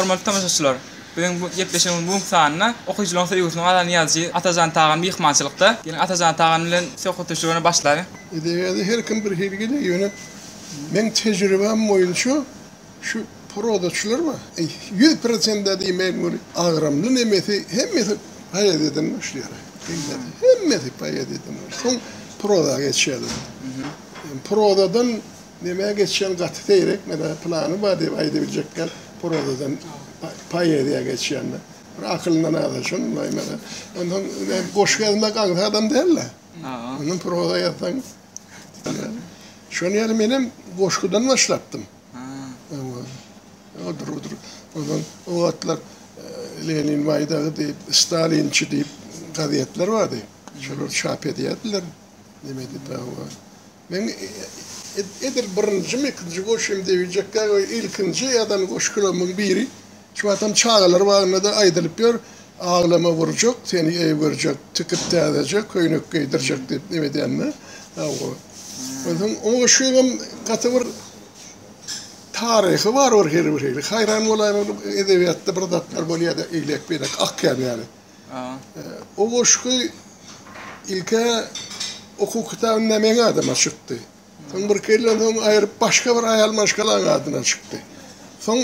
Hormatly tomaşaçylar! Biziň bu gepleşigimiziň bu günki sanynda okyjylaryň söýgüsini gazan ýazyjy Atajan Tagan myhmançylykda. Geliň Atajan Tagan bilen söhbetdeşligini başlaýyn. Edebiýada her kim bir hili gelýär, ýöne meň tejribäm boýunça şu prozaçylar bar, ýüz prosent-ä diýmeýin göni, agramly nemesi hemmesi poeziýadan başlaýar. Hemmesi, hemmesi poeziýadan başlaýar. Soň proza geçýärler. Prozadan. Nämä geçýäň, gaty seýrekme-dä, pylany bar diýip aýdybiljekgän prozadan poeziýa geçýän-dä. Bir akylyndan azal, şony bilaýma-da. Onsoň men goşgy ýazmak aňsat adam däl-dä. Ondan proza ýazsaň. Şonuň ýaly menem goşgudan başlapdym. Onsoň o wagtlar Lenin baýdagy diýip, Stalinçi diýip gazetler bardy. Şolar çap edýärdiler. Neme diýip, hawa. Men edil birinjimi, ikinji goşym diýmejekkä goý, ilkinji ýazan goşgularymyň biri. Şu wagtam çagalar bagynda-da aýdylyp ýör, Aglama wurjak, seni eý görjek, Tikip täzeje köýnek geýdirjek diýip neme edýänini. Hawa. Onsoň o goşgyň hem gaty bir taryhy bar bir hili bir hili. Haýran bolaýmaly edebiýatda bir zatlar bolýar-da eýlek-beýlek akýan ýaly. O goşgy ilk-ä okuw kitabynda meň adyma çykdy. Soň birki ýyldan soň aýryp başga bir aýal maşgalaň adyna çykdy. Soň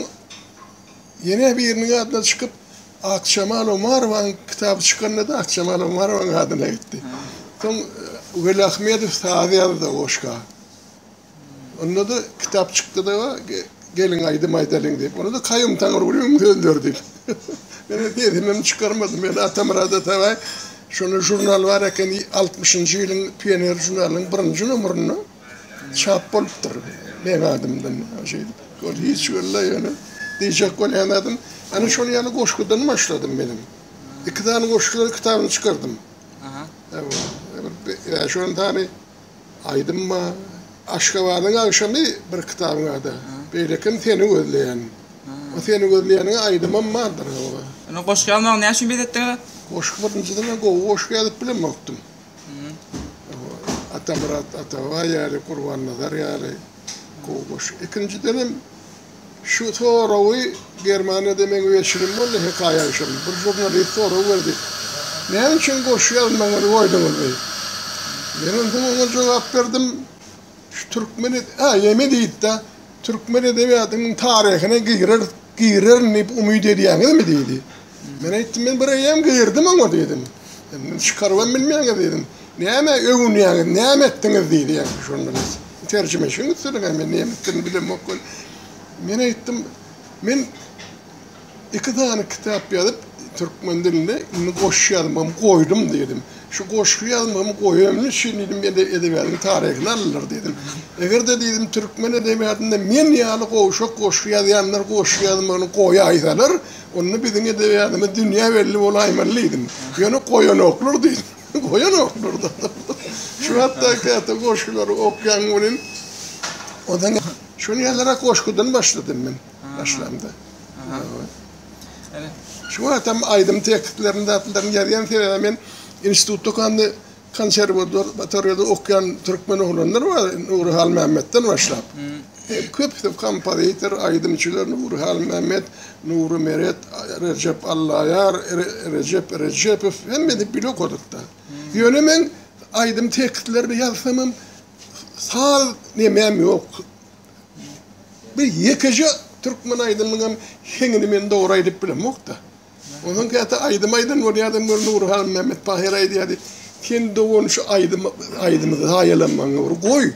ýene biriniň adyna çykyp, Akjemal Omarowanyň kitaby çykanda-da Akjemal Omarowanyň adyna gitdi. Soň Weli Ahmedow saz ýazdy o goşga. Onda-da kitap çykdy-da, Geliň aýdym aýdalyň diýip. Onda-da Kaýum Taňrygulyýewiň sözleri diýip. Men hem sesimem çykarmadym. Men Atamyrat Atabaý şonda žurnal bar eken, altmyşynjy ýylyň Pioner žurnalynyň birinji nomerinde çap bolupdyr meň adymdan. Şeýdip, ol hiç wella ýöne diýjek bolýan zadym, ana şol ýaly goşgudan başladym men hem. Iki sany goşgular kitabyny çykardym. Aha. Bäş-on sany Aýdym ba Aşgabadyň agşamy bir kitabyň ady Beýlekim seni gözleýän O seni gözleýäniň aýdymam bardyr oba. Ony goşgy ýazmagy näçe wagt etdiňiz? Goşgy birinji diňe gowy goşgy ýazyp bilemokdym. Atamyrat Atababa ýaly Gurbannazar ýaly gowy goşgy. Ikinjidenem. Şu soragy Germaniýada meň weçinim boldy, hekaýa düşen bir žurnalist sorag berdi, Näme üçin goşgy ýazmagyňyzy goýduňyz? diýip. Menem soň oňa jogap berdim, Şu türkmen, a, ýeme diýdi-de, Türkmen edebiýatynyň taryhyna gireris, girerin diýip umyt edýäňizmi? diýdi. Men aýtdym, Men bir eýýäm girdim oňa diýdim. Çykarybam bilmeýäňiz diýdim. Näme öwünýäňiz, näme etdiňiz diýýän şonda. Terjime şuny etdiler, men näme etdigirini bilemok weli. Men aýtdym, Men iki sany kitap ýazyp, türkmen dilinde indi goşgy ýazmagym goýdum diýdim. Şu goşgy ýazmagymy goýanym üçin diýdim, edebiýatyň taryhyny aldylar diýdim. Eger-de diýdim, türkmen edebiýatynda men ýaly gowşak goşgy ýazýanlar goşgy ýazmagyny goýaýsalar, Onda biziň edebiýatymyz dünýä belli bolaýmaly diýdim. Ýöne goýanoklar diýdi. Goýanoklar-da. Şu hatda käte goşgulary okýan welin, onsoň şuny ýazarak goşgudan başladym men başlamda. Şu wagtam aýdym tekstlerini, zatlaryny ýazýan sebäbim men institutda okanda Konserwator batarýada okýan türkmen oglanlar bar, Nury Halmämmetden başlap. Köpüsi kompozitor, aýdymçylar, Nury Halmämmet, Nury Meret, Rejep Allaýar, Rejep Rejepow, hemmesi bile okadyk-da. Ýöne men aýdym tekstlerini ýazsamam, saz nemäm ýok. Bir ýekeje türkmen aýdymynyňam heňini men dogry aýdyp bilemok-da. Onuň käte aýdym aýdan bolýardy bir Nury han Mehmet Pahyr aýdýardy. Sen dogan şu aýdym aýdymy zaýalanmaň bir goý.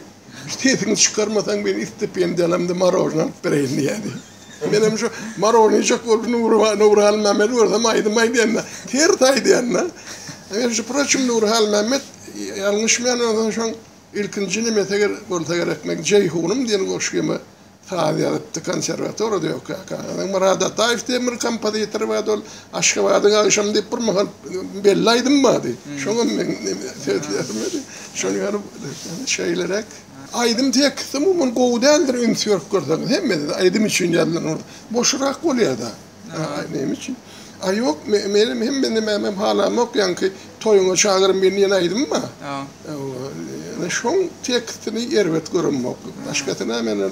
Sesiňi çykarmasaň men istipendiýalamda marožna alyp bereýin diýýärdi. Menem şu marožnyjak bolup Nury Nury han Mehmedi görsem aýdym aýdýanda ters aýdýanda. Men şu proçim Nury han Mehmet ýalňyşmaýan bolsam şoň ilkinji nimesi bolsa gerek men Jeýhunym diýen goşgymy Saz ýazypdy konserwatorada ýokaýka. Ýöne Myrat Ataýew diýen bir kompozitor bardy, ol Aşgabadyň agşamy diýip bir mahal belli aýdym bardy. Şoňam men seslendirmedim. Şony görüp şeýleräk. Aýdym teksti umuman gowy däldir üns berip görseňiz. Hemme aýdym üçin ýazylan ol boşrak bolýada. Aý, näme üçin? Aý, ýok, menem hemme nämämem halamok, ýaňky toýuňa çagyrym birini ýene aýdym bar. Ýöne şoň tekstini erbet göremok. Başgasy näme ol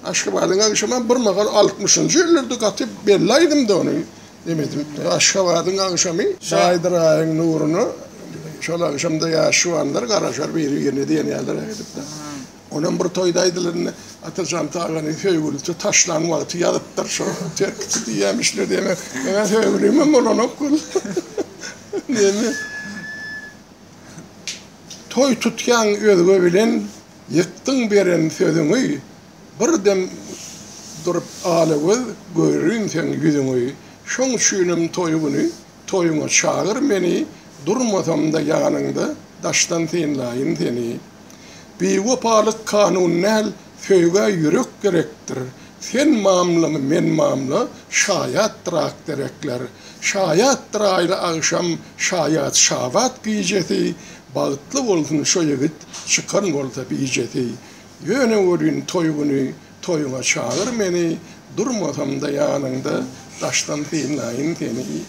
Aşgabadyň agşamy bir mahal altmyşynjy ýyllary gaty belli aýdymdy ony nemedim. Aşgabadyň agşamy Baýdyr aýyň nuruna şol agşamda ýaş juwanlar garaşar biri-birine diýen ýaly aýdypdyr. Onam bir toýda aýdylanda Atajan aganyň söýgülisi taşlan wagty ýazypdyr şo tekst diýýämişler diýmek. Meňem söýgülimem bolanok gül. Neme? Toý tutýaň özge bilen ýykdyň beren sözüňi bir dem durup alagöz görün seň ýüzüňi şoň üçinem toý güni Toýuňa çagyr meni, Durmasam-da ýanyňda, Daşdan synlaýyn seni. Biwepalyk kanun däl, Söýgä ýürek gerekdir. Sen mamlamy, men mamla, Şaýatdyr ak derekler. Şaýatdyr aýly agşam, Şaýat şabat gijesi, Bagtly bolsun şo ýigit, Çykan bolsa bijesi. Ýöne welin toý güni, Toýuňa çagyr meni, durmasam-da ýanyňda, daşdan synlaýyn seni.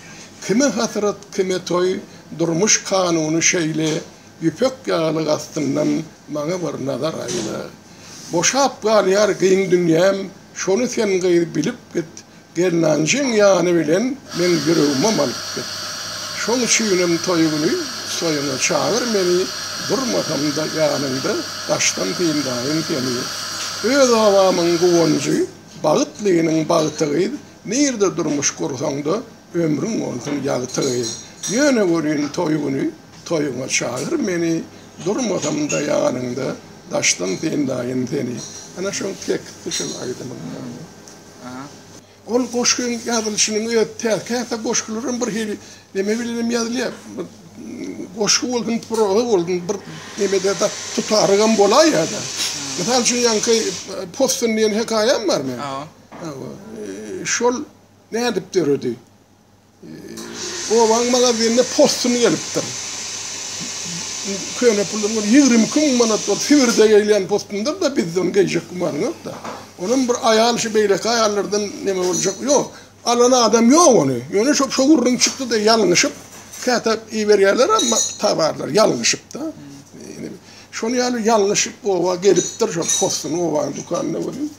Kime hasrat, kime toý, durmuş kanuny şeýle, ýüpek ýaly gastyndan maňa bir nazar aýla. Boşap galýar giň dünýäm, şony sen gyz bilip git, Gelnanjyň ýany bilen meň ýüregimem alyp git. Şoň üçinem toý güni toýuňa çagyr meni, durmasam-da ýanyňda daşdan synlaýyn seni. Öz obamyň guwanjy, bagtlynyň bagty gyz, nirde durmuş gursaň-da, ömrüň bolsun ýagty gyz. Ýöne görýin toý güni toýuňa çagyr meni, durmasam-da ýanyňda daşdan synlaýyn seni. Ana şol teksti şol aýdymyň. Ol goşgyň ýazylyşynyň özi täz. Käte goşgular hem bir hili neme bilen hem ýazylýar. Goşgy bolsun, proza bolsun, bir neme-de da tutarygam bolaýýar-da. Mysal üçin, ýaňky Possun diýen hekaýam bar meniň. Şol nädip döredi? Obaň magazinine postun gelipdir. Köne puldan bir ýigrimi iki müň manat bolup, Sibirde gelýän postundyr-da, bizde ony geýjek güman ýok-da. Onam bir aýal şu beýleki aýallardan neme boljak, ýok. Alan adam ýok ony. Ýöne şo şo gürrüň çykdy-da, ýalňyşyp, käte iberýärlerem towarlary, ýalňyşyp-da. Şonuň ýaly ýalňyşyp oba gelipdir, şo postuny obanyň dükanynda görüp.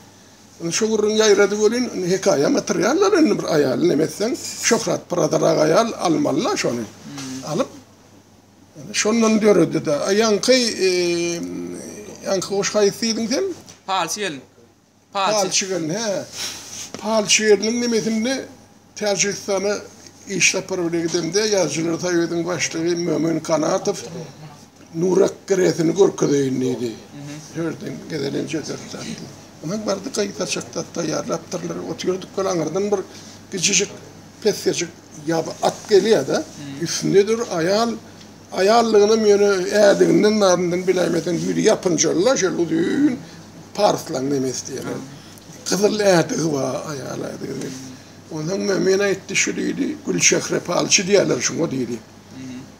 Indi şu gürrüň ýaýrady welin, indi hekaýam ýatyrýarlar indi bir aýaly neme etseň, şöhrat biradyrak aýal almaly-la şony. Alyp, indi şondan döredi-de. A ýaňky, ýaňky goşgy haýsy diýdiň sen? Palçy gelin. Palçy gelin, hä. Palçy geliniň nemesinde Täjigistana iş sapary bilen gidemde, Ýazyjylar soýuzynyň başlygy Mömin Kanatow Nurak giresini görkezeýin diýdi. Sözden gezelenje söz tapdy. Onsoň bardy gaýy saçak zat taýýarlapdyrlar. Otyrduk ol aňyrdan bir gijijik, pesgejik ýaby at gelýär-de, üstünde dur aýal. Aýallygynam ýöne ädiginden nadyndan biläýmeseň ýüzi ýapynjala şeýle uzyn parslaň nemes diýerler. Gyzyl ädigi bar aýal ädiginiň. Onsoň Mömin aýtdy şu diýdi Gülçehre palçy diýerler şuňa diýdi.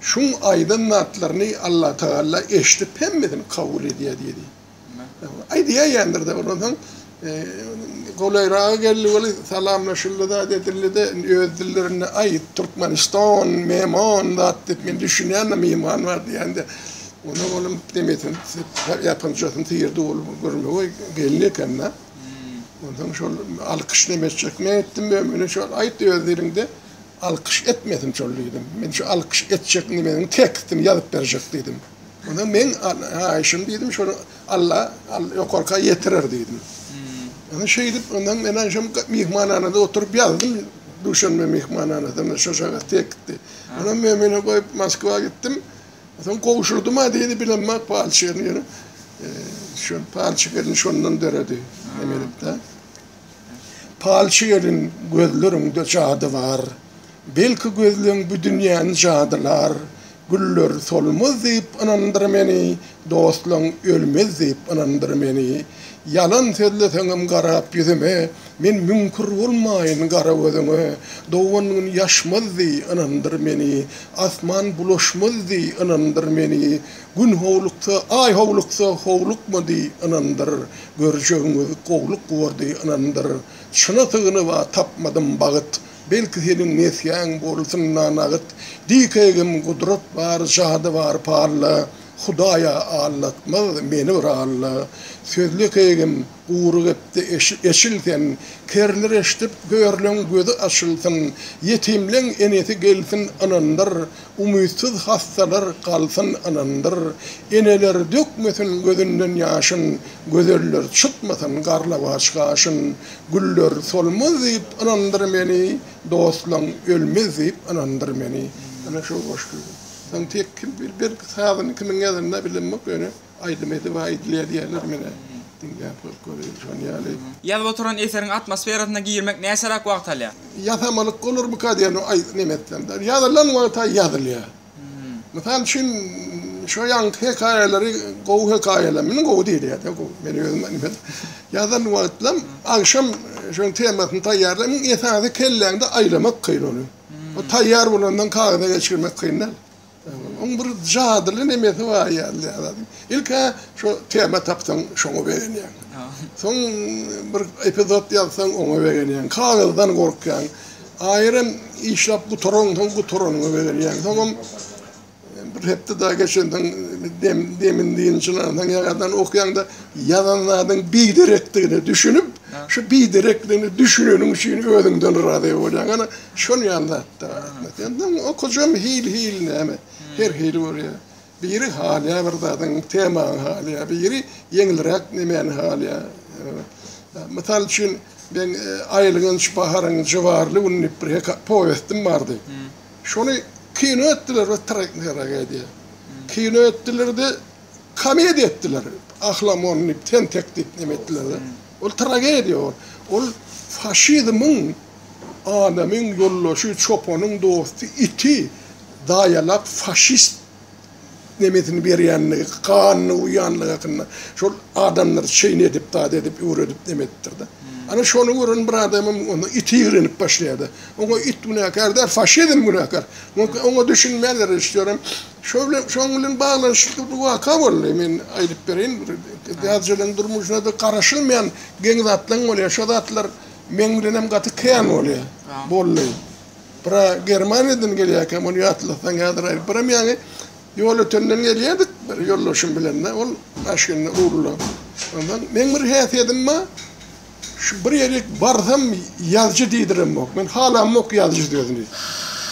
Şuň aýdan zatlaryny Allatagalla eşidip hemmesini kabul edýär diýdi. Aýdýaýýandyr-da, ondan soň golaýraga geldi weli, salamlaşyldy zat edildi-de, indi öz dillerinde, Aý, Türkmenistan, Memon zat diýip, men düşünýän-de, Mimon bar diýen-de. Ondan onuň nemesini, ýapynjasyny syýrdy, ol görmegeý gelin eken-de. Ondan soň şol alkyş nemesçek men etdim, men muny şol aýt öz diliňde, alkyş etmesin şol diýdim. Men şu alkyş etjek nemeňi tekstini ýazyp berjek diýdim. Onda men haýyşym diýdim, şony Alla ýokarka ýetirer diýdim. Onda şeýdip, ondan men aýşam myhmanhanada oturyp ýazdym. Duşanbe myhmanhanasynda şo şagat tekitdi. Ondan men meni goýup Moskwa gitdim. Soň gowşurdym ha diýdi, bilemma palçygyny ýöne. Şol palçyk elini şondan döredi. Emelip-de. Palçy gelin, gözleriňde jady bar, Belki gözleň bu dünýäni jadylar, Güller solmaz diýip ynandyr meni, Dostlaň ölmez diýip ynandyr meni. Ýalan sözleseňem garap ýüzüme, Men müňkür bolmaýyn gara gözüňe, Dogan gün ýaşmaz diý, ynandyr meni, Asman bulaşmaz diý, ynandyr meni, Gün howluksa, aý howluksa, howlukma diý, ynandyr, Görjegiňiz gowluk bor diý, ynandyr. Çyna sygynyp-a tapmadym bagyt, Belki seniň nesgäň bolsun-da nagyt. Diý kegim, gudrat bar, jady bar palla, Hudaý-a aldatmaz meni bir Alla. Sözle kegim. Gury gepdi eşil sen. Kerler eşdip, hörleň gözi açylsyn, Ýetimleň enesi gelsin ynandyr, Umytsyz hassalar galsyn ynandyr. Eneler dökmesin gözünden ýaşyn, Gözeller çytmasyn garlawaç gaşyn. Güller solmaz diýip ynandyr meni, Dostlaň ölmez diýip ynandyr meni. Ana şol goşgy. Soň tek kim bil, belki sazyny kimiň ýazanyny-a bilemok ýöne. Aýdym edip aýdylýar diýýärler menä diňläp göreli şony ýaly. Ýazyp oturan eseriň atmosferasyna girmek näçeräk wagt alýar? Ýasamalyk bolarmyka diýen oý neme etsemde ýazylan wagta ýazylýar. Mysal üçin şo ýaňky hekaýalary gowy hekaýalar meniň gowy diýilýärde gowy men özüm neme ýazan wagtlam agşam şoň temasyny taýýarlaýyn iň esasy kelläňde aýlamak kyn ony. O taýýar bolandan kagyza geçirmek kyn däl. Oň bir jadyly nemesi bar ýaly ýazadyň. Ilk-ä şo tema tapsaň şoňa begenýäň. Soň bir epizod ýazsaň oňa begenýäň. Kagyzdan gorkýaň. Aýram işläp gutaran soň gutaranyňa begenýäň. Soňam bir hepde dagy geçensoň dem demin dynjylansoň ýaňadan okýaňda ýazan zadyň biderekdigine düşünip, şu biderekligine düşüneniň üçin özüňden razy bolýaň. Ana Şol ýaly zatda Ahmet. Indi okujam hil-hil näme. Her hili bolýar. Biri halýar bir zadyň, temany halýar, biri ýeňilräk nemäni halýar. Mysal üçin, men Aýlygyň şu baharyň jybarly güni diýip bir heka, powestim bardy. Şony kino etdiler we tragediýa. Kino etdiler-de, Komediýa etdiler. Ahlamon diýip, tentek diýip näme etdiler-de. Ol tragediýa ol. Ol faşizmiň adamyň ýoldaşy, çopanyň dosty, iti daýalap faşist nemesini berýänligi, ganyny guýýanlygy hakynda. Şol adamlary çeýni edip, dady edip, üwredip neme edipdir-de. Ana şony gören bir adamym onda iti ýigrenip başlaýar-da. Oňa it günäkär däl, faşizm günäkär. Oňa düşünmändir režissýoram. Şo bilen, şoň bilen baglanyşykly bir waka boldy. Men aýdyp bereýin, bir täjirleň durmuşyna-da garaşylmaýan geň zatlaň bolýar. Şo zatlar meň bilenem gaty kän bolýar, boldy. Bira Germaniýadan gelýärkä, muny ýatlasaň häzir aýdyp biram ýaňy. Ýolötenden gelýärdik bir ýoldaşym bilen-de, ol maşynda, rulda. Onsoň meň bir häsiýetim bar, Şu bir ýere barsam ýazyjy diýdiremok. Men halamok ýazyjy sözüni.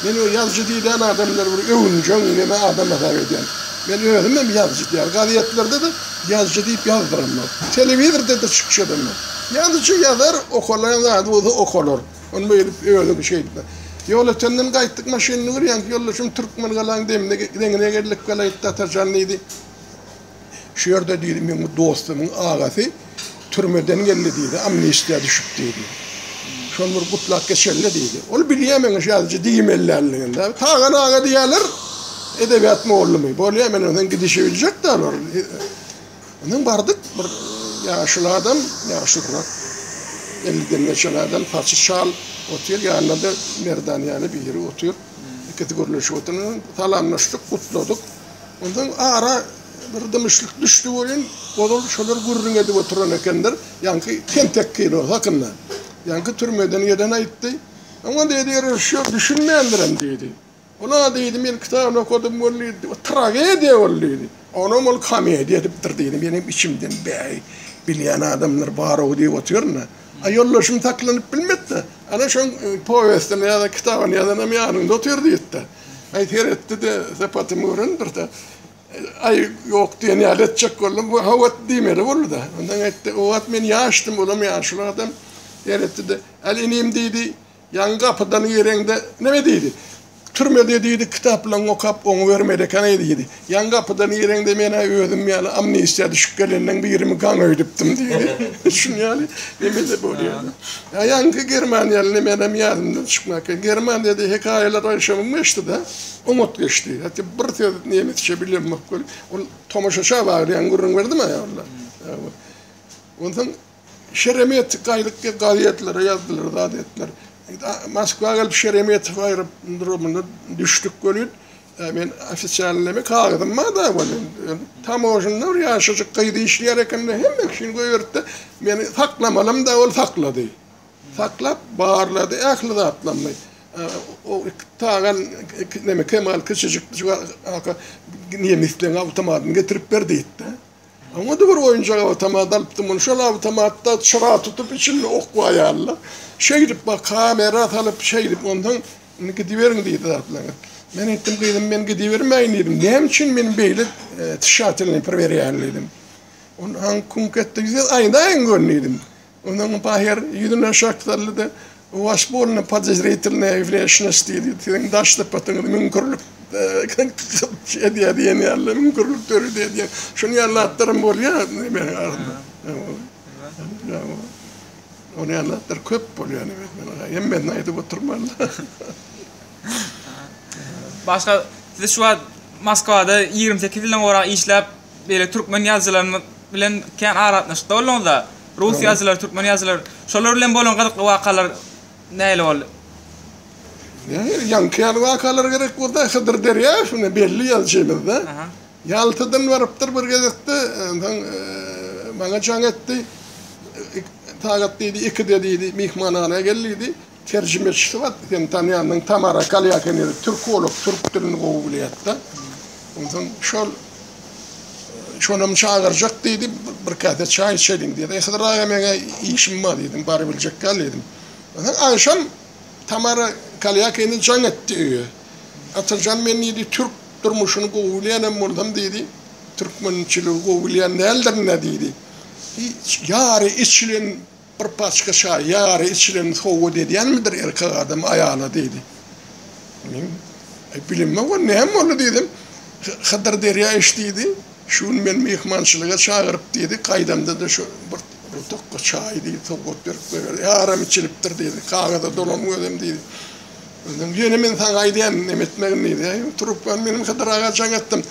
Meni o ýazyjy diýilýän adamlar bir öwünjeň neme adam hasap edýän. Men özüm hem ýazyjy däl. Gazetlerde-de ýazyjy diýip ýazdyramok. Telewizorda-da çykyş edemok. Ýazyjy ýazar, okalan zady bolsa okalar. Ony beýdip özüňi şeý etme. Ýolötenden gaýtdyk maşynda ýörýänki ýoldaşym Türkmengalaň demine deňine geldik welaýat Tatarjan diýdi. Şu ýerde diýdi, meň bir dostumyň agasy türmeden geldi diýdi, amnistiýa düşüp diýdi. Şony bir gutlap geçeli diýdi. Ol bilýär meň ýazyjy diýmelänligini. Tagan aga diýerler, edebiýat mugallamy. Bolýar, men ondan gidişi biljek däl ol. Ondan bardyk, bir ýaşuly adam, ýaşulyrak. Elliden geçen adam, saçy çal otyr, ýanynda-da Merdan ýaly biri otyr. Ikisi gürleşip otyr. Salamlaşdyk, gutladyk. Onsoň ara bir dymyşlyk düşdi welin, ozal şolar gürrüň edip oturan ekenler, ýaňky tentekkiler hakynda. Ýaňky türmeden gelen aýtdy. Oňa diýdi, režissýor düşünmändirem diýdi. Ol-a diýdi, men kitabyny okadym welin, diýdi, tragediýa ol diýdi. Onam ol komediýa edipdir diýdi. Men hem içimden, bäý, bilýän adamlar bar-ow diýip otyryn-da. A ýoldaşym saklanyp bilmedi-de, ana şoň powestini ýa-da kitabyny ýazanam ýanyňda otyr diýdi-de. Aý seretdi-de, sypatymy gören birse, aý ýok diýen ýaly etjek boldy. Bu howat diýmeli boldy-da. Onsoň aýtdy, o wagt men ýaşdym, olam ýaşuly adam. Seretdi-de, Al inim diýdi, ýaňy gapydan gireňde näme diýdi? Türmede diýdi, kitaplaryňy okap oňubermeli ekeniň diýdi. Ýan gapyda nireňde men-ä özüm ýaly amnistiýa düşüp geleniň birimi gaň öýdüpdim diýdi. Şuny ýaly nemele bolýar. Ýaňky Germaniýaly nemelem ýadymdan çykmaka. Germaniýada hekaýalar aýşamym geçdi-de, oňat geçdi. Hatda bir söz nemesçe bilemok welin, ol tomaşaça baglaýan gürrüň berdim aýalyna. Onsoň. Şeremetyw gaýlyk diýip gazetlere ýazdylar zat etdiler. Moskwa gelip Şeremetyw aerodromynda düşdük welin men ofisialnymy kagyzym barda welin tamožnda bir ýaşajyk gyz işleýär ekende hemme kişini goýberipdi meni saklamalymda ol saklady. Saklap barlady ähli zatlarymy. O tagan neme Kemal kiçijik aka nemisleň awtomatyny getirip ber diýipdi. Oňa-da bir oýunjak awtomat alypdym. Muny şol awtomatda çyra tutup, içinde ok bar ýaly-da. Şeýdip, baý, kamera salyp, şeýdip, onsoň, Indi gidiberiň diýdiler bize. Men aýtdym, Gyzym, men gidibermäýin diýdim. Näme üçin meni beýle tişatilniý pir berýäň diýdim. Onsoň, Kuň ketdi, siz aýdaýyň gör diýdim. Onuň Bahir ýüzüne şakdaldy-da, Waş bolny podozritelnaya wneshnost diýdi. Siziň daş sypatyňyz müňkürlik edýär diýen ýaly, müňkürlik döredi edýär. Şuny ýaly zatlaram bolýar Nebesiň arasynda. Ýa-o. Ony ýaly zatlar köp bolýar Nebesiň arasynda. Hemmesini aýdyp oturman-da. Başga, siz şu wagt Moskwada ýigrimi sekiz ýyldan gowrak işläp, beýle türkmen ýazyjylaryny bilen kän aragatnaşykda bolduňyzda, rus ýazyjylary, türkmen ýazyjylary, şolar bilen bolan gyzykly wakalar nähili boldy? Nähili, ýaňky ýaly wakalar gerek bolsa, Hydyr Derýaýew ine belli ýazyjymyzda, Ýaltadan barypdyr bir gezekde, onsoň maňa jaň etdi, Tagat diýdi, ikide diýdi, myhmanhana gel diýdi, Terjimeçisi bar, sen tanýandyň, Tamara Kalýakan ýeri türkolog, türk dilini gowy bilýärdi. Onsoň şol şonam çagyrjak diýdi, bir käse çaý içeliň diýdi. Hydyr aga meňe işim bar diýdim, bary biljek däl diýdim. Onsoň agşam Tamara Kalýakany jaň etdi öýe. Atyrjan men diýdi, türk durmuşyny gowy bilýänem bolsam diýdi, türkmençiligi gowy bilýän däldirin-ä diýdi. Ýary içilen Bir paçka çaý, ýary içilen sowgat edýänmidir erkek adam aýala? diýdi. Men, Aý, bilemok, ol näme boldy? diýdim. Hydyr derýa iç diýdi. Şu gün meni myhmançylyga çagyryp diýdi. Gaýdamda-da şu bir tutukga çaý diýdi, sowgat berip goýberdi. Ýaram içilipdir diýdi. Kagyza dolam gözüm diýdi. Onsoň ýene men saňa aýdýan neme etmegini diýdi. Aý, trubkany menem Hydyr aga jaň etdim.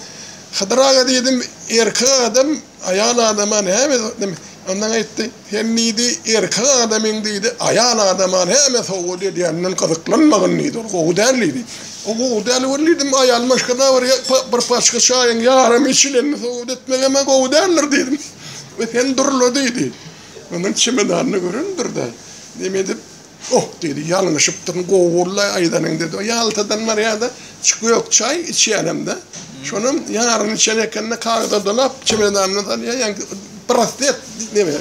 Hydyr aga diýdim, erkek adam Aýal adama näme sowgat edýär? Ondan aýtdy, Sen diýdi, erkek adamyň diýdi, aýal adama näme sowgat edýänine gyzyklanmagyn diýdi. Ol gowy däl diýdi. Ol gowy däl welin diýdim, aýal maşgala bir paçka çaýyň ýarymy içilende sowgat etmek hem-ä gowy däldir diýdim. We sen durla diýdi. Onuň çemedanyny görendir-de, neme edip, Oh, diýdi, ýalňyşypdyryn, gowy boldy-aý aýdanyň, diýdi. Ýaltadan barýa-da, iki gök çaý içýänem-de. Şonam ýaryny içen eken-de, kagyza dolap, çemedanyna salýar, ýaňky braslet, neme,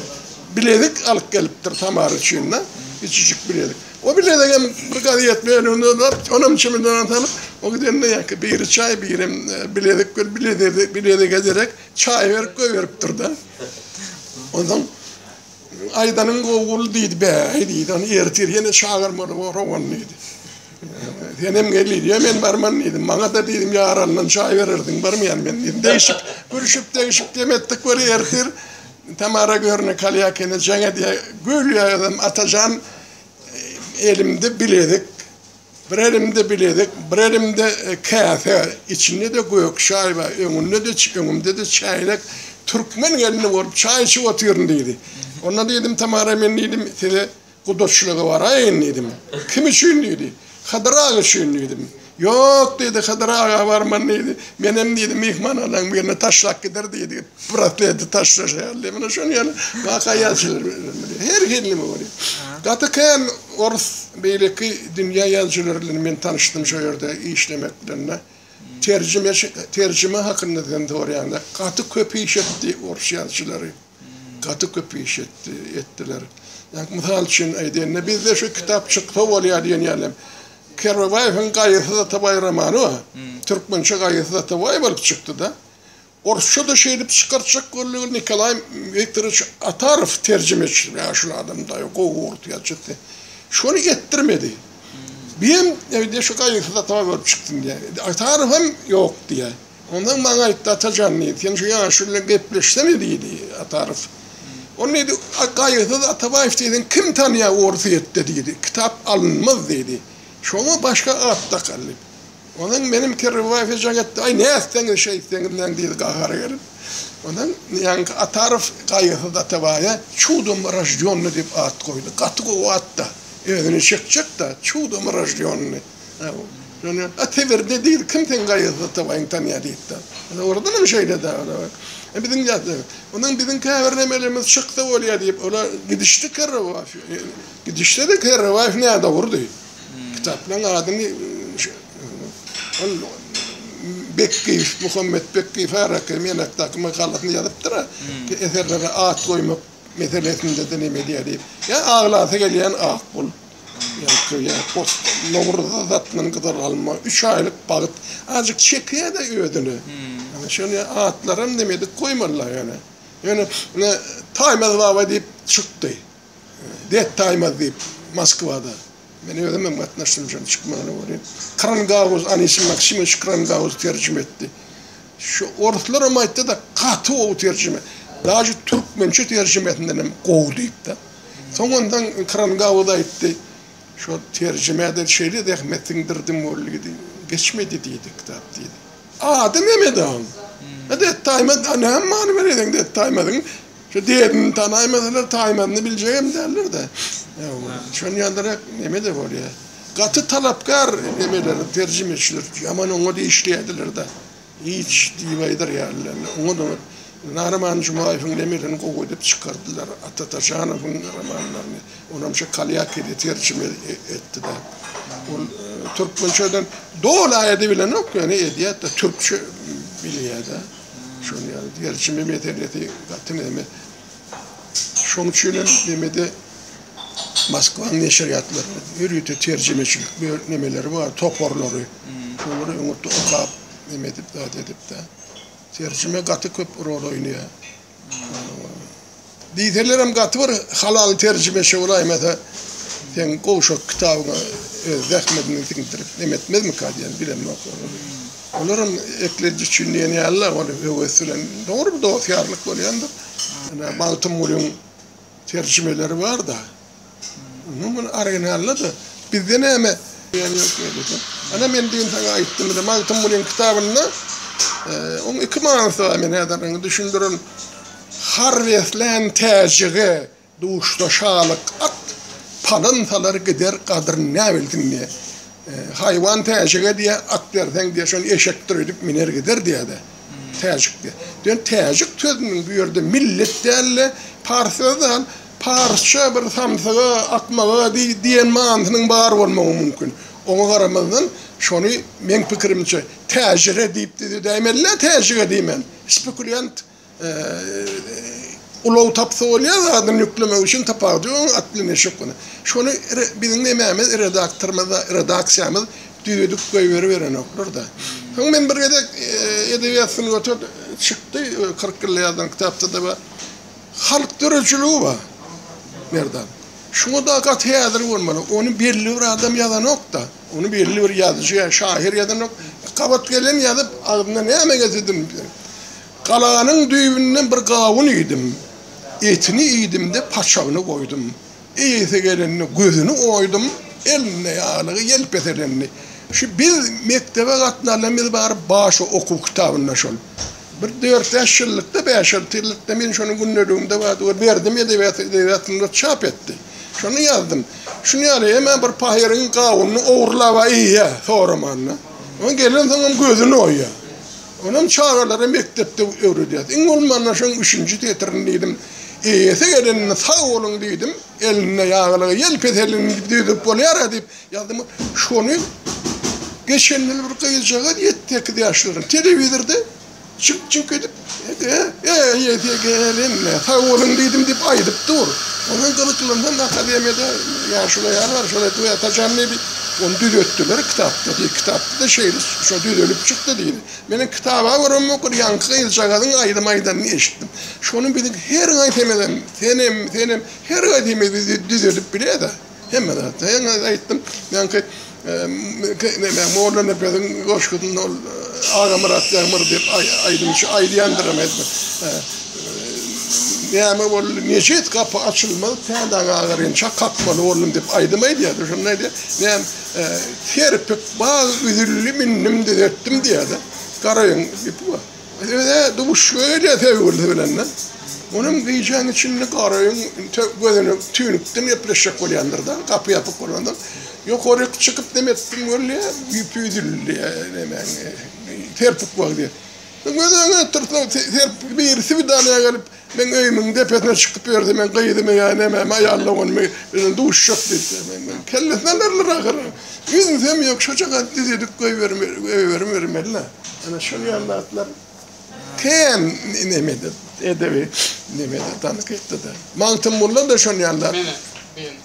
bilezik alyp gelipdir Tamara üçin-de, kiçijik bilezik. O bilezigem bir gazet bölüminde bar, onam çemedana salyp, o gidende ýaňky biri çaý, birem bilezik berip, bilezige derek çaý berip goýberipdir-de. Onsoň. Aýdanyň gowy, diýdi. Bäý, diýdi, ony ertir ýene çagyrmaly borag ony, diýdi. Senem gel, diýdi. Ýa men barman, diýdim. Maňa-da, diýdim, ýarandan çaý bererdiň, barmaýan men, diýdim. Degşip, gülşüp, degşip dem etdik. Bir ertir Tamara Görne Kalýakina jeň edýär. Gül ýa özem Atajan elimde bilezik. Bir elimde bilezik, bir elimde käse, içinde-de gök çaý bar, öňünde-de, öňümde-de çäýnek, türkmen gelni bolup çaý içip otyryn, diýdi. Onda diýdim, Tamara, men diýdim, size gudaçylyga baraýyn diýdim. Kim üçin diýdi. Hydyr aga üçin diýdim. Ýok diýdi, Hydyr aga barman diýdi. Menem diýdi, myhmanhananyň birine taşlap gider diýdi. Bratleti taşlaşýar diýip, muny şonuň ýaly waka ýazyjylar bilen bolýar. Her hili neme bolýar. Gaty kän orus, beýleki dünýä ýazyjylary bilen men tanyşdym şo ýerde işlemek bilen-de. Terjimeçi, terjime hakynda sen soraýanda, gaty köp iş etdi orus ýazyjylary. Gaty köp iş etdi, etdiler. Ýa mysal üçin aýdaýynda, bizde şu kitap çyksa bolýar diýen ýaly, Kerbabaýewiň Gaýysyz Atabaý romany bar. Türkmençe Gaýysyz Atabaý bolup çykdy-da. Orsça-da şeýdip çykartjak boldy, Nikolaý Wiktorowiç Atarow terjimeçi, ýaşuly adam, daýaw, gowy ors ýazyjysy. Şony etdirmedi. Birem indi şu gaýgysyz atama görüp çykdym diýýär. Indi Atarow hem ýok diýýär. Onsoň maňa aýtdy, Atajan, diýdi, sen şu ýaşuly bilen gepleşsene, diýdi, Atarow. Ony, diýdi, gaýgysyz Atabaýew diýseň kim tanýar Orsýetde, diýdi. Kitap alynmaz, diýdi. Şoňa başga at dakaldy. Onuň meniň Perrybaýew hyjuň etdi, aý nätseňiz şeýtseňiz näň diýdi gahary gelip. Onuň ýaňky Atarow gaýysyz Atabaýa Çudom roždýonny diýip at goýdy. Gaty gowy at-da. Özüni çekjek-de, Çudom roždýonny. Şonda, a Sibirde diýdi, kim seň gaýysyz Atabaýyňy tanýar diýdi-de. Dogrudanam şeýle-de. Biziň ýatda. Onuň biziň käbir nemelerimiz çyksa bolýar diýip, olar gidişdi Kerribaýew. Gidişde-de Kerribaýew nädogrudy. Kitaplaryň adyny ol Bekgiýew, Muhammet Bekgiýew Haraka Menakdaky makalasynda ýazypdyr, eserlere at goýmak meselesinde-de neme edýär diýip. Ýa aglasy gelýän ak bul. Nowruza datnan gyzyl alma, üç aýlyk bagt. Azajyk çekýär-de özüne. Ýöne şonda atlaram neme edip goýmalylar ýöne. Ýöne Taýmaz baba diýip çykdy. Detdaýmaz diýip, Moskwada, men özümem gatnaşdym şonuň çykmagyna welin, Krangauz, Anisim Maksimowiç Krangauz terjime etdi. Şu oruslaram aýtdy-da, gaty gowy terjime, daže türkmençe terjimesindenem gowy diýip-de. Soňundan Krangauz aýtdy, Şo terjime-de şeýle zähmet siňdirdim weli diýdi, geçmedi diýdi kitap diýdi. Ady näme-de oň? Detdaýmaz, näme many ber edeň Detdaýmazyň? Şu debini tanaýmasalar taýmasyny biljegem däller-de. Şony ýalyrak neme-de bolýar. Gaty talapkär nemeler, terjimeçiler ýaman oňat işleýärdiler-de. Hiç diýip aýdyrýarlar. Oňat-oňat Nahraman Jumaýewiň nemelerini gowy edip çykardylar. Ata Taşanowyň romanlaryny. Onam şu Kalýakede terjime etdi-de. Ol türkmençeden doly aýady bilenok, ýöne edýär-de, türkçe bilýär-de. Şony ýaly gerçi meme senesi gaty näme. Şoň üçin hem memede Moskwanyň neşirýatlarynda ýörite terjimeçilik böl nemeleri bar, toparlary. Şolary öňürti okap, neme edip, zat edip-de. Terjime gaty köp rol oýnaýar. Diýselerem gaty bir halal terjimeçi bolaýmasa, seň gowşak kitabyňa öz zähmediňi siňdirip neme etmezmika diýen bilemok. Olaram eklenji üçin diýen ýaly-la, ony höwes bilen, dogry bir dost-ýarlyk bolýandyr. Ene, Magtymgulyň Terjimeleri bar da. Umuman muny originalda da bizde näme ýany ýok ýerde. Ana men düýn saňa aýtdym da Magtymgulyň kitabynda oň iki manysy bar men häzir oňa düşündirin. Har beslän täjige duşsa şalyk at palan salar gider gadryn näbilsin diýýär. Haýwan täjige diýýär at berseň diýýär şony eşekdir öýdüp miner gider diýýär-de. Täjik diýýär. Diýen täjik sözüniň bu ýerde millet däl-de, pars sözi däl, parsça bir samsyga, akmaga diýen manysynyň bar bolmagy mümkin. Oňa garamazdan, şony, meň pikirimçe, täjire diýipdi diýip däýmeli-dä, täjige diýmän. Spekulýant ulag tapsa bolýar zadyny ýüklemek üçin, tapar-da ýok, onuň atly neşe okuna. Şony biziň nemämiz, redaktorymyz, redaksiýamyz düzedip goýberiberenoklar-da. Soň men bir gezek Edebiýat sungaty çykdy, kyrk ýylda ýazylan kitapda-da bar. Halk döredijiligi bar, Merdan. Şuňa dagy gaty häzir bolmaly. Ony belli bir adam ýazanok-da. Ony belli bir ýazyjy ýa şahyr ýazanok. Gabat gelen ýazyp, agzyna näme gelse dymdy. Galanyň düýbünden bir gawun iýdim. Etini iýdim-de, paçagyny goýdum. Eýesi gelende gözüni oýdum, elinde ýaglygy ýelpes edendi. Şu biz mekdebe gatnanda biz baryp başy okuw kitabynda şol. Bir dört-bäş ýyllykda, bäş-alty ýyllykda men şony gündeligimde bardy we berdim edebiýat edebiýatynda çap etdi. Şony ýazdym. Şuny ýaly emma bir pahyryň gawunyny ogurlaba eýýä soramanda. Oň gelensoňam gözüni oýýa. Onuň çagalara mekdepde öwredýäs. Iň bolmanda şoň üçünji setirini diýdim. Eýesi geleninde sag boluň diýdim. Elinde ýaglygy ýelpes elini düzüp bolýar-a diýip ýazdym. Şony geçen ýyl bir gyzjagaz ýedi sekiz ýaşlarynda telewizorda jyňk jyňk edip Eýesi gelende sag boluň diýdim diýip aýdyp dur. Oňa gyzyklansaň akademiýada ýa şulaý ýa şulaý Atajan diýip Ony düzetdiler kitapda diýdi. Kitapda-da şeýle şo düzelip çykdy diýdi. Meniň kitaba görem okur ýaňky gyzjagazyň aýdym aýdanyny eşitdim. Şony biz her gaýsymyzam, senem, senem her gaýsymyz düzedip bilede. Hemme zatda. Ýene aýtdym, ýaňky neme Mollanepesiň goşgusynda ol Agamyrat Ýagmyr diýip aýdymçy aýdýandyram aýtdym. Näme boldy? Neşet gapy açylmaz, Päli aga agyrynçak kakmaly boldum diýip aýdym aýdýardy. Şonda aýdýar, Näm, serpik bag üzüldi, mindim düzetdim diýýär-de. Garaýyň gepi bar. Öz-ä duşga gelýär söýgülisi bilen-de. Onuň gijäň içinde Garaýyň gözüne tüýnükden gepleşjek bolýandyr-da, gapy ýapyk bolansoň. Ýokaryk çykyp neme etdim bolýar, ýüpi üzüldi, nemäň, serpik bag diýip. Siz öz öýüňe getirseň, Serpil biri swidaniýa gelip, meň öýümiň depesine çykyp ýörse, meň gyzymy ýa nämämi, aýal doganymy bilen duşjak diýse, men munuň kellesine berler ahyry. Ýüzünsem ýok, şojagaz düz edip goýberibermeli-le. Ana şol ýaly zatlar kän nemede, edebi nemede, tankytda-da. Magtymgulyda-da şol ýaly zat.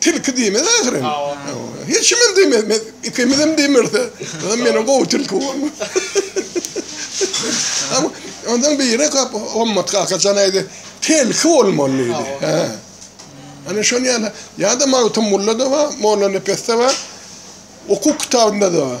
tilki diýmez ahyryn. Hiç kim hem diýmez. Men ikimiz hem diýmerse, ha meniň gowy tilki bor. Ondan biri gap Ommat kaka jan aýdy. Tilki bolmaly diýdi. Ha. Ana şon ýaly. Ýa-da Magtymgulla da bar, Mollanepesde bar. Hukuk kitabynda da bar.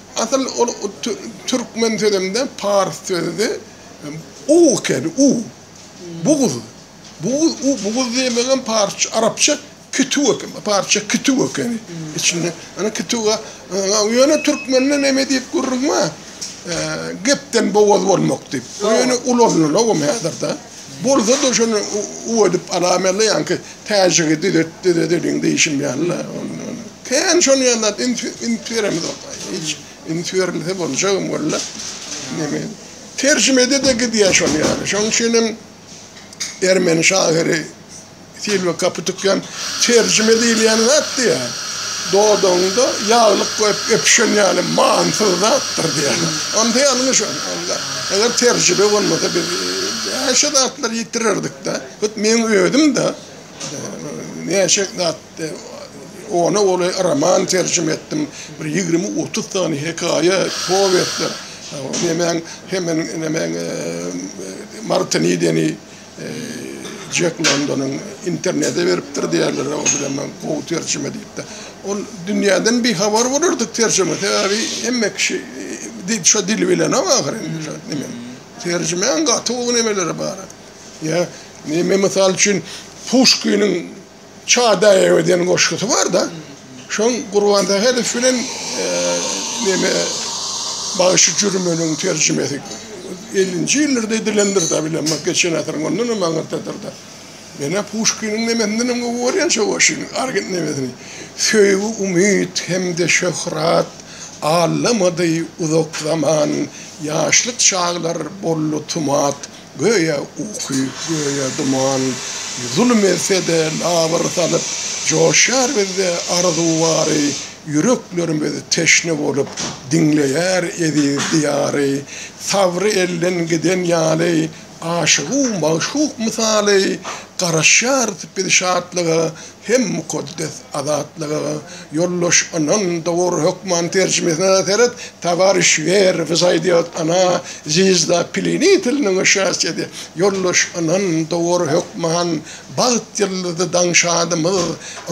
Asyl ol türkmen sözünde pars sözüdi. U ekeni, u. Buguz. Buguz, u, buguz diýmegem parsça, arapça kütüw ekeni, parsça kütüw ekeni. Içinde, ýöne kütüw, ýöne türkmende näme diýip gürrüň bar? Gepden bogaz bolmak diýip. Ýöne ulanylanok hem häzirde. Bolsa-da şony u edip alaýmaly, ýaňky täjigi düzet, düzet elin diýşim ýaly-la. Kän şon ýaly zat üns, üns beremzok. Hiç üns berilse boljagam walla. Neme, terjimede-de gidýär şon ýaly. Şonuň üçinem ermeni şahyry. Silwa gapy tükýän terjime diýilýän zat diýýär. Dodagyňda ýaglyk goýup öpüşen ýaly manysyz zatdyr diýýär. Onda ýalňyş ol. Onda eger terjime bolmasa biz näçe zatlary ýitirerdik-de. Hut meň özüm-de näçe zatdy. Ona uly roman terjime etdim. Bir ýigrimi-otuz sany hekaýa, powestler. Nemäň, hemen nemäň Martinideni. Jek Londonyň internete beripdir diýerler, o bilen men gowy terjime diýip-de. Ol dünýäden bihabar bolardyk terjime, sebäbi hemme kişi şo dili bilenok ahyryn. Terjimäň gaty gowy nemeleri bar. Ýa, men mysal üçin Puşkiniň Çadaýewa diýen goşgusy bar-da. Şoň Gurban Sähedow bilen neme Bagşy Jürmeniň terjimesi ellinji ýyllarda edilendir-de bilemok, geçen asyryň ondan hem aňyrdadyr-da. Men-ä Puşkiniň nemesinden hem gowy görýän şo goşgyny, argent nemesini. Söýgi umyt hem-de şöhrat allamady uzak zaman, ýaşlyk çaglar boldy tumat. Göýä uky, göýä duman, Zulum etse-de, labyr salyp, Joşýar bizde arzuw bary, Ýüreklerimiz teşne bolup, Diňleýär eziz Diýary. Sabry elden giden ýaly, Aşygu magşuk mysaly, Garaşýarys biz şatlyga, hem mukaddes azatlyga ýoldaş ynan dogry hökman terjimesine seret Tawariş Wer wzaýdýot ana zizda pilini tiliniň şasyýedi ýoldaş ynan dogry hökman bagt ýyldyzy daň şadymyz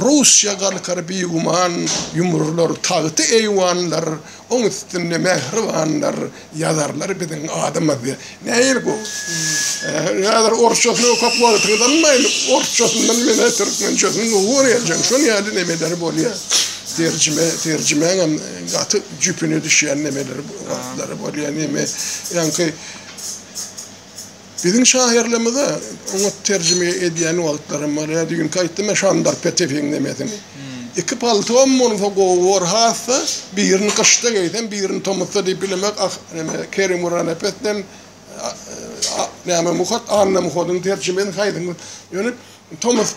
Russiýa galkar biguman ýumrular tagty eýwanlar Oň üstünde mähribanlar ýazarlar biziň adymyzy. Näil bu? Häzir orsçasyny okap wagtyňyzy almaýyn. Orsçasyndan menä türkmençesini dogry öwrenjeň. Şol ýaly nemeler bolýar. Terjime, terjimäňem gaty jüpüne düşýän nemeler, wagtlary bolýar. Neme, ýaňky Biziň şahyrlymyza oňa terjime edýän wagtlarym bar. Ýa düýnki aýtdym men Şandar Petewiň nemesin. Iki paltom bolsa gowy bor hassa, birini gyşda geýsem, birini tomusda diýip bilemek ah, neme, Kerim Guranepes bilen, a, a, näme, Muhat, Anna Muhadyň terjimesini haýsyňyz? Ýöne tomus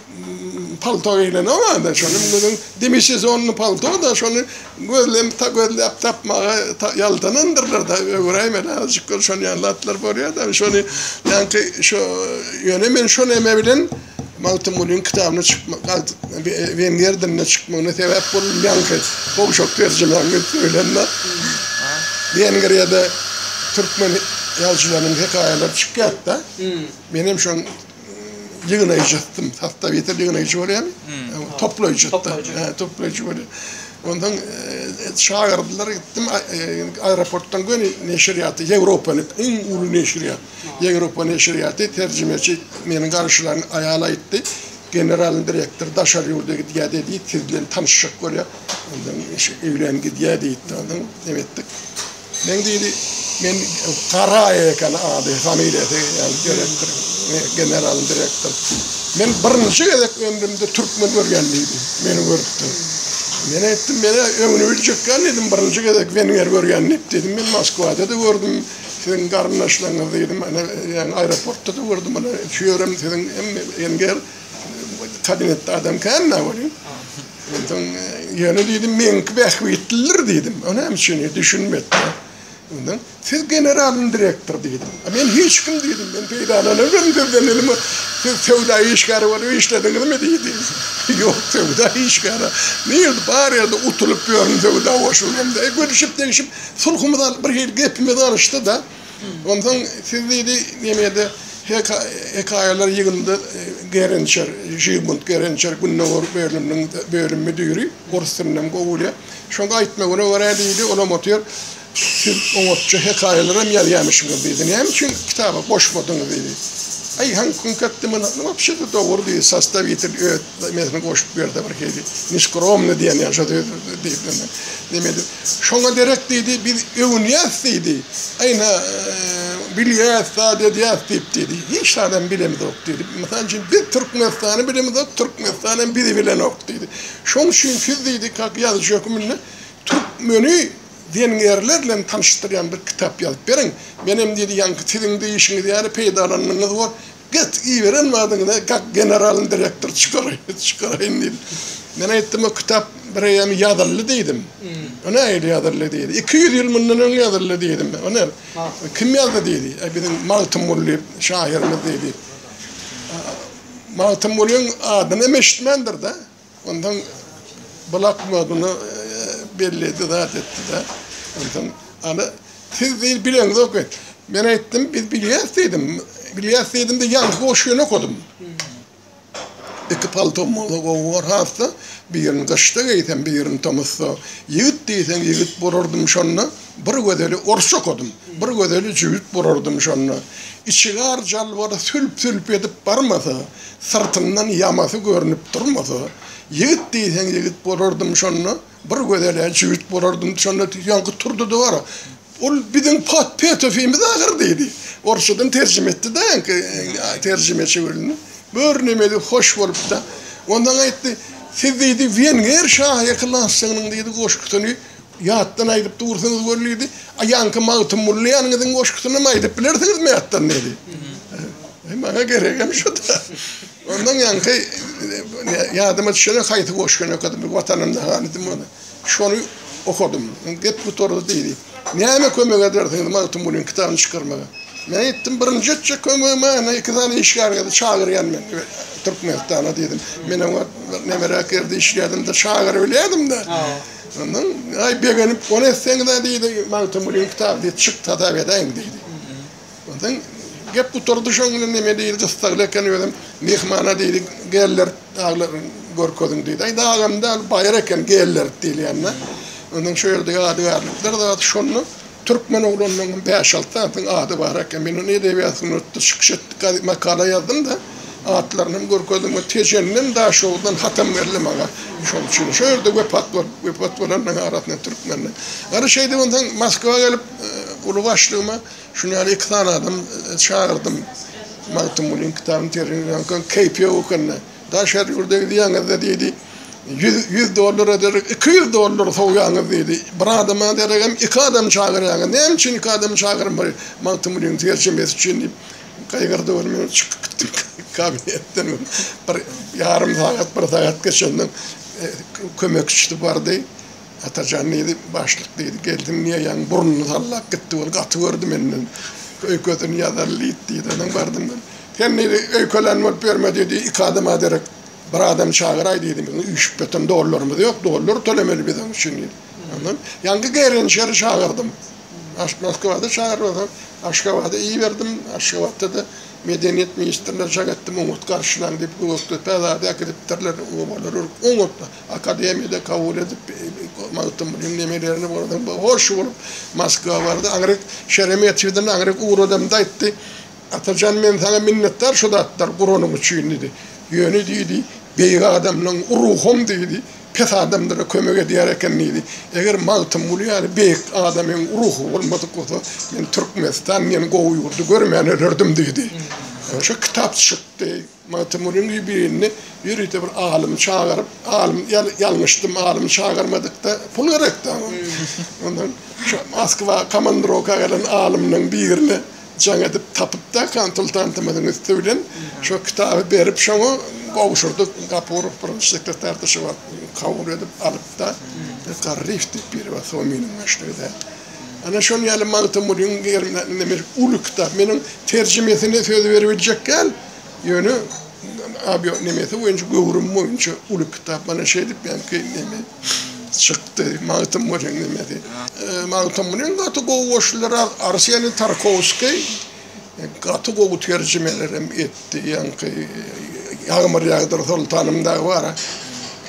palto geýlenok anda şonuň bilen demisezonny palto-da şony gözlenip ta gözläp tapmaga ýaltanandyrlar-da öwüräýme azajyk gör şon ýaly zatlar bolýa-da şony ýaňky şo ýöne men şo neme bilen Magtymgulyň kitabyny çykma wenger dilinde çykmagyna sebäp boldum ýaňky gowşak terjimäňi söýlende wenger ýa-da türkmen ýazyjylarynyň hekaýalary çykýardy-da menem şoň ýygnaýjytdym. Hafta ýeter ýygnaýjy bolýan. Toplaýjy. Toplaýjy bolýan. Ondan çagyrdlar gitdim. Aeroportdan göni neşirýaty, Ýewropanyň iň uly neşirýat. Ýewropa neşirýaty terjimeçi meniň garşylan aýal aýtdy. Generalnyň direktory daşary ýurda gidýär diýdi. Siz bilen tanyşjak bolýar. Ondan öýlän gidýär diýdi. Ondan näme etdik? Men diýdi, men Karaýew eken ady, familiýasy, ýagny direktor, general direktor. Men birinji gezek ömrümde türkmen görýän diýdi, meni görüpdi. Men aýtdym, men öňüni biljekkan diýdim, birinji gezek wenger görýän diýdim, men Moskwada-da gördüm, siziň garyndaşlaryňyzy diýdim, ýagny aeroportda-da gördüm, ýöne şu ýerim siziň hem wenger. Tadyň etdi adam känme weli. Ondan ýöne diýdim, meňki bähbitlidir diýdim. Ony hem şeýle düşünmedi. Ondan siz generalyň direktor diýdim. Men hiç kim diýdim, men peýdalanarym sizden dedim. Siz söwda işgäri bolup işlediňizmi diýdi. Ýok, söwda işgäri. Nir bar ýerde utulyp ýörün söwda goşuldym diýip, gülüşip-degişip, sulhumyz alyp bir hili gepimiz galyşdy-da. Onsoň siz diýdi, Nemede hekaýalar ýygyndysy Gerençer, Žigmund Gerençer, Gündogar Berliniň bölüm müdiri, orus dilinem gowy bilýär. Şoň aýtmagyna görä diýdi, olam otyr, siz oňatja hekaýalaram ýazýamyşyňyz diýdi. Näme üçin kitaba goşmadyňyz diýdi. Aý, haňkuň köpdemini, wapşe-de dogry diýdi, sostawitel öt. Demesini goşup ber-de bir hili. Neskromny diýen ýaly şo söz diýip indi. Neme edip. Şoňa derek diýdi, biz öwünýäs diýdi. Aýna bilýäs, zat edýäs diýip diýdi. Hiç zadam bilemizok diýdi. Mysal üçin biz Türkmenistany bilemizok, Türkmenistan hem bizi bilenok diýdi. Şoň üçin siz diýdi, kak ýazyjy höküminde türkmeni wengerler bilen tanyşdyrýan bir kitap ýazyp beriň. Menem diýdi, ýaňky siziň diýişiňiz ýaly peýdalananyňyz bor. Get, iberen zadyňy-da gak generalyň direktory çykaraýyn, çykaraýyn diýdi. Men aýtdym, o kitap bir eýýam ýazyldy diýdim. O nähili ýazyldy diýdi. Iki ýüz ýyl mundan öň ýazyldy diýdim. O ne, kim ýazdy diýdi. E, biziň Magtymguly şahyrymyz diýdi. Magtymgulyň adyny hem eşitmändir-de. Onsoň bloknot muny belledi, zat etdi-de, onsoň, Ana, siz diýdi, bileňizok et. Men aýtdym, biz bilýäs diýdim. Bilýäs diýdim-de, ýalňyş goşgyny okadym. Iki paltom bolsa gowy bor has-da, birini gyşda geýsem, birini tomusda. Ýigit diýseň ýigit bolardym şonda, bir gözeli orsça okadym, bir gözeli jübüt bolardym şonda. Içigar jalbary sülp-sülp edip barmasa. Syrtyndan ýamasy görnüp durmasa, ýigit diýseň ýigit bolardym şonda, bir gözel-ä jübüt bolardym şonda diýip ýaňky turdy-da wara, Ol biziň Pet-Petofimiz ahyr diýdi. Orsçadan terjime etdi-de ýaňky terjimeçi gelni. Bir nemeli hoş bolupdy. Onsoň aýtdy, Siz diýdi, wenger şahyr klassygynyň diýdi goşgusyny Ýatdan aýdyp dursaňyz görlidi. A ýaňky Magtymguly ýanyňyzyň goşgusynam aýdyp bilersiňizmi ýatdan diýdi. Eý maňa geregem şu-da. Ondan ýaňky ýadyma düşene haýsy goşgyny okadym, bir Watanymda hanydym ony. Şony okadym. Gep gutardy diýdi. Näme kömek edersiňiz Magtymgulynyň kitabyny çykarmaga? Men aýtdym, birinji etjek kömegim ana iki sany işgärňizi çagyrýan men Türkmenistana diýdim. Men oňa nemeräk ýerde işleýärdim-de, çagyryp bilýärdim-de. Ondan, aý, begenip ony etseňiz-ä, diýdi, Magtymgulynyň kitaby, diýdi, çyk, sadap edäýiň, diýdi. Ondan gep gutardy şoň bilen, neme diýdi, gyssagly eken özem, myhmana diýdi, Gellerit daglary görkeziň, diýdi. Aý, dagam däl, baýra eken, Gellerit diýilýän-dä. Ondan şu ýerde ýadygärlikler zady şonda. Türkmen oglanlarynyň bäş-alty sanysynyň ady bar eken. Men ony Edebiýat sungatda çykyş etdik gazy makala ýazdym-da, atlaryny hem görkezdim we Tejenden, Daşoguzdan hatam geldi maňa. Şonuň üçin şo ýerde wepat bolup, wepat bolanlaryň arasynda türkmenler. Gara şeýdip onsoň Moskwa gelip, uly başlygyma şuny ýaly iki sany adam çagyrdym. Magtymgulynyň kitabyny terjime edýän, keýpi ýok ekeni. Daşary ýurda gidýäňizde diýdi, ýüz, ýüz dollara derek iki ýüz dollar sowýaňyz diýdi. Bir adama deregem iki adam çagyrýaňyz. Näme üçin iki adam çagyrmaly? Magtymgulynyň terjimesi üçin diýip, gygyrdy ol. Men çykyp gitdim kabinetden. Bir ýarym sagat, bir sagat geçenden kömekçisi bardy. Atajan diýdi, başlyk diýdi, geldiň niýe ýaňy burnuny sallap gitdi, ol gaty gördi menden, öýkesini ýazaly diýip diýdi, ondan bardym men. Sen diýdi, öýkelän bolup ýörme diýdi, iki adama derek bir adam çagyraý diýdi, biziň üýşüpbetem dollarymyz ýok, dollar tölemeli biz onuň üçin diýdi. Ondan ýaňky gerençeri çagyrdym. Aş Moskwada çagyrmasaň, Aşgabada iberdim, Aşgabatda-da medeniýet ministrine jaň etdim, oňat garşylaň diýip, Gökdepe zady äkidipdirler, obalar örüp oňat. Akademiýada kabul edip, Magtymgulynyň nemelerini bolsa hoş bolup, Moskwa bardy. Aňryk Şeremetýewden aňryk ugradamda aýtdy, Atajan, men saňa minnetdar şu zatlary guranyň üçin diýdi. Ýöne diýdi, beýik adamlaň ruham diýdi, pes adamlara kömek edýär eken diýdi. Eger Magtymguly ýaly beýik adamyň ruhy bolmadyk bolsa, men Türkmenistan diýen gowy ýurdy görmän ölerdim diýdi. Şo kitap çykdy. Magtymgulynyň ýubileýinde ýörite bir alymy çagyryp, alym ýalňyşdym, alymy çagyrmadykda pul gerekdi aňa. Ondan şo Moskwa komandrowka gelen alymlaryň birini jaň edip tapypda konsultantymyzyň üsti bilen şo kitaby berip şoňa gowşurdyk. Gapurow birinji sekretardy şo wagt. Kabul edip alypda Garryýew diýip biri bar Sominiň başlygy-da. Ana şol ýaly Magtymgulynyň uly kitap. Men oň terjimesini söz beribiljek däl. Ýöne awio nemesi boýunça göwrüm boýunça uly kitap mana şeýdip ýaňky neme çykdy. Magtym bolýan nemesi. Magtym bilen gaty gowy goşular Arsenýew Tarkowskiý gaty gowy terjimelerem etdi. Ýaňky Ýagmyr ýagdyr soltanym dagy bar.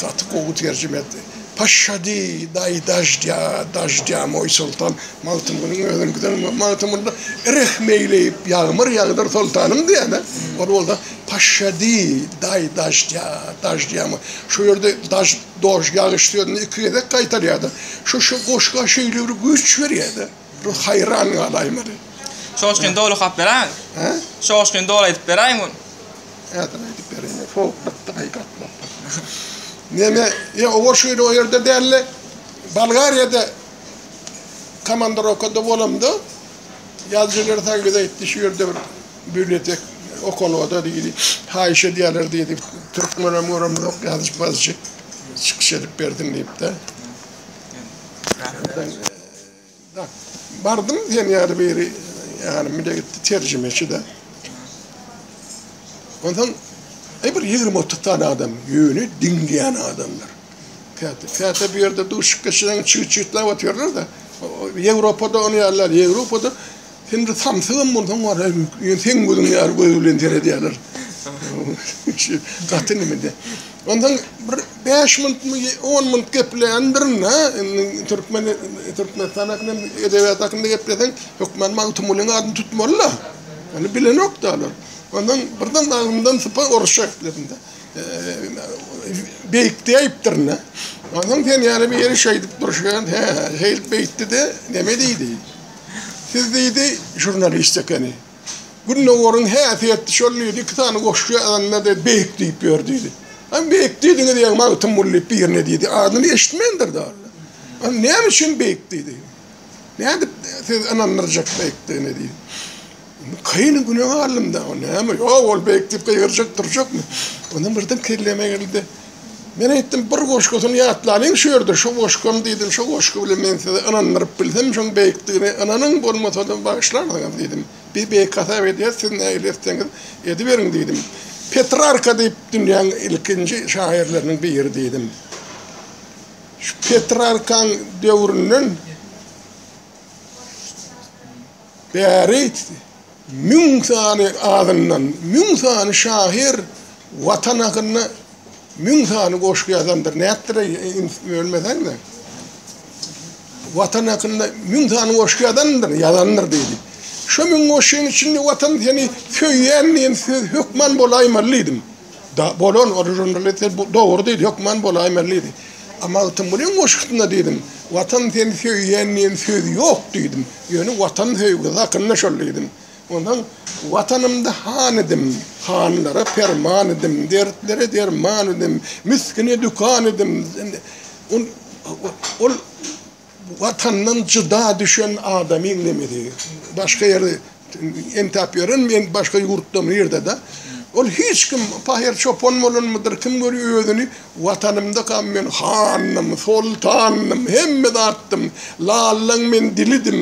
Gaty gowy terjime etdi. Paşşady, daýy daždýa, daždýa, moý soltan, Magtymgulyň özüni giden Magtymgulyda rehim eýleýip, ýagmyr ýagdyr soltanym diýýän-ä. Ol bolsa, Paşşady, daýy daždýa, daždýa, moý. Şu ýerde daž, doj, ýagyş sözüni iki gezek gaýtarýar-da. Şu, şu goşga şeýle bir güýç berýär-de. Bir haýran galaýmaly. Şoňa şuny doly okap beräýiň. Hä? Şoňa şuny doly aýdyp beräýiň muny. Häzir aýdyp bereýin. Sowuk gytdy gaýyk atlap barýar. Neme, ýa oba şeýle o ýerde däldi. Bolgariýada komandirowkada bolamda ýazyjy Lersan bize aýtdy, şu ýerde bir bibliotek okalga-da diýdi, haýyş edýärler diýdi, türkmenem göremzok, ýazyjy-mazyjy çykyş edip bersin diýip-de. Bardym sen ýaly biri ýanymy da gitdi terjimeçi-de. Onsoň e bir ýigrimi-otuz sany adam ýöne diňleýän adamlar. Käte, käte bu ýerde duşup geçireňi çyg-çyglap otyrlar-da. Ýewropada ony ýaly däl. Ýewropada Sen bir samsygam bolsaň bar, ýöne seň gözüň ýaly göz bilen seredýärler. Şu gaty nimede. Ondan bir 5 minutmy, 10 minut gepleýän birine, indi türkmen Türkmenistan hakynda, edebiýat hakynda gepleseň, hökman Magtymgulynyň adyny tutmaly-da. Ony bilenok-da olar. Ondan birden agzymdan sypar orusça gepledim-de. Beýikdi aýypdyr-da. Ondan sen ýaly biri şeýdip durşuna, he, şeýdip beýtdi-de, neme diýdi? Siz diýdi, žurnalist ekeni. Gündogaryň häsiýeti şol diýdi, iki sany goşgy ýazanda diýdi, beýik diýip ýör diýdi. Ony beýik diýdiňiz ýa Magtymguly diýip birine diýdi. Adyny eşitmendir dal. Ony näme üçin beýik diýdi? Nädip siz ynandyrjak beýikdigine diýdi. Kaýynyň günäni aldym dagy, näme, ýok, ol beýik diýip gygyrjak durjakmy? Onam birden kelleme geldi. Men aýtdym, bir goşgusyny ýatlalyň şu ýerde, şu goşgam diýdim, şu goşgy bilen men sizi ynandyryp bilsem, şoň beýikdigine ynanyň, bolmasa-da bagyşlarsyňyz diýdim. Biz beýik hasap edýäs, siz nähili etseňiz ediberiň diýdim. Petrarka diýip dünýäň ilkinji şahyrlarynyň biri diýdim. Şu Petrarkaň döwründen. Bäri müň sany azyndan müň sany şahyr Watan hakynda müň sany goşgy ýazandyr. Nätdir-eý, ins, bölmeseň-de. Watan hakynda müň sany goşgy ýazandyr, ýazandyr diýdi. Şo müň goşgyň içinde Watan seni söýýän diýen söz hökman bolaýmaly diýdim. Da, bolan, o žurnalist sen bu dogry diýdi, hökman bolaýmaly diýdi. A Magtym bu neň goşgusyna diýdim. Watan seni söýýän diýen söz ýok diýdim. Ýöne Watan söýgüsi hakynda şol diýdim. Onsoň Watanymda han idim, hanlara perman idim, dertlere derman idim, misgine dükan idim. Ol Watandan jyda düşen adamyň nemesi başga ýerde entäp ýören men başga ýurtda mı ýerde-de ol hiç kim pahyr çopan bolanmydyr kim görýär özüni watanymdakam men handym soltandym hemme zatdym lallaň men dilidim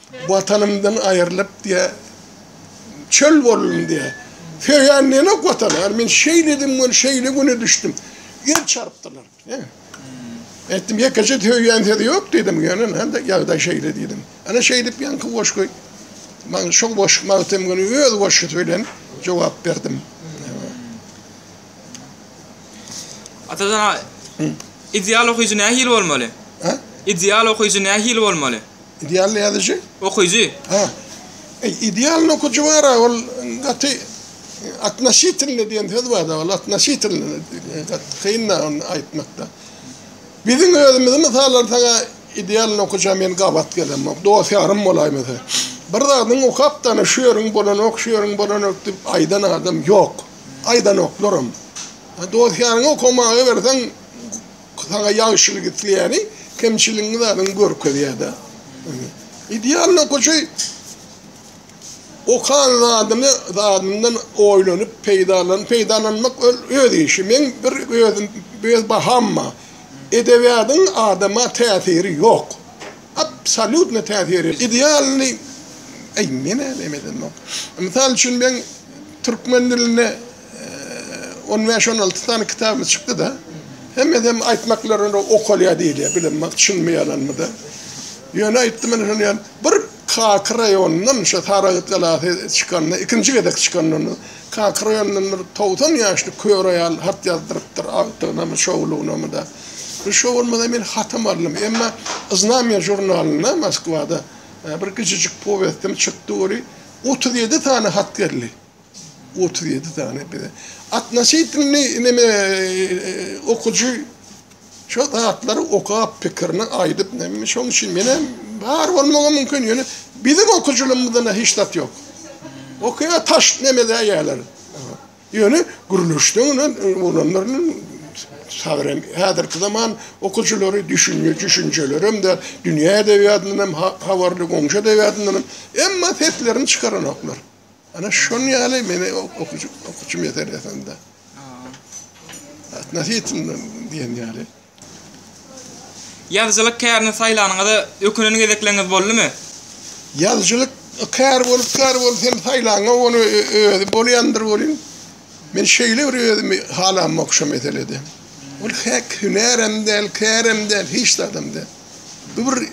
Watanymdan aýrylyp diýä çöl boldum diýä söýen diýenok watana ýar men şeýledim we şeýle güne düşdüm ýer çarpdylar diýä aýtdym ýekeje söýen sözi ýok diýdim ýöne handa ýagdaý şeýle diýdim ana şeýdip ýaňky goşgy maňa şo goşgy magtym güni öz goşgusy bilen jogap berdim. Atajan aga, ideal okyjy nähili bolmaly? Ideal okyjy nähili bolmaly? Idealny ýazyjy? Okyjy. Ha. E, idealny okyjy bar, ol gaty atnaşitilni diýen söz bar da, ol atnaşitilni kyn da onu aýtmakda. Biziň özümizi mysal alsaňa idealny okyja men gabat gelemok. Dost ýarym bolaý mese. Bir zadyň okap da şu ýeriň bolanok, şu ýeriň bolanok diýip aýdan adam ýok. Aýdanoklar hem. Dost ýaryňy okamaga berseň Saňa ýagşylyk isleýäni kemçiligiňi zadyňy görkezýär-dä. Idealny okaçy okan zadyny zadyndan oýlanyp peýdalanyp, peýdalanmak ol öz işi. Meň bir özüm öz baham bar. Edebiýadyň adama täsiri ýok. Absolýutno täsiri ýok. Idealny eý men-ä näme edemok. Mysal üçin men türkmen dilinde. On bäş, on alty sany kitabymyz çykdy-da. Hemmesem aýtmaklaryna okalýar diýilýär, bilemok çynmy ýalanmyda. Ýöne aýtdym ine şony ýaly. Bir Kaka raýonyndan şo Saragt galasy çykanda, ikinji gezek çykanda onda Kaka raýonyndan bir togsan ýaşly kör aýal hat ýazdyrypdyr, agtygynamy, şowlugynamy-da. Bir şo bolmasa men hatam aldym. Emma Znamýa žurnalynda Moskwada bir kiçijik powestim çykdy weli, otuz ýedi sany hat geldi. Otuz ýedi sany bize. Atnaşytynny neme okujy şo zatlary okap pikirini aýdyp neme şoň üçin menem bar bolmagy mümkin ýöne biziň okujylymyzda hiç zat ýok. Okýa taş neme däýerler. Ýöne gürleşden ine olanlarynyň sabrem häzirki zaman okujylary düşünje düşünjelerem de dünýä edebiýatyndan hem habarly goňşy edebiýatyndan hem emma seslerini çykaranoklar. Ana şun ýaly meni okuçym okuçym ýeter ýasanda. Atna sitinden diýen ýaly. Ýazyjylyk kärini saýlanyňyza ökünen gezekleriňiz boldumy? Ýazyjylyk kär bolup kär bolup hem saýlaňa ony özi bolýandyr welin men şeýle bir özümi halamok şu meselede. Ol häk hünärem däl, kärem däl, hiç zadam däl. Bu bir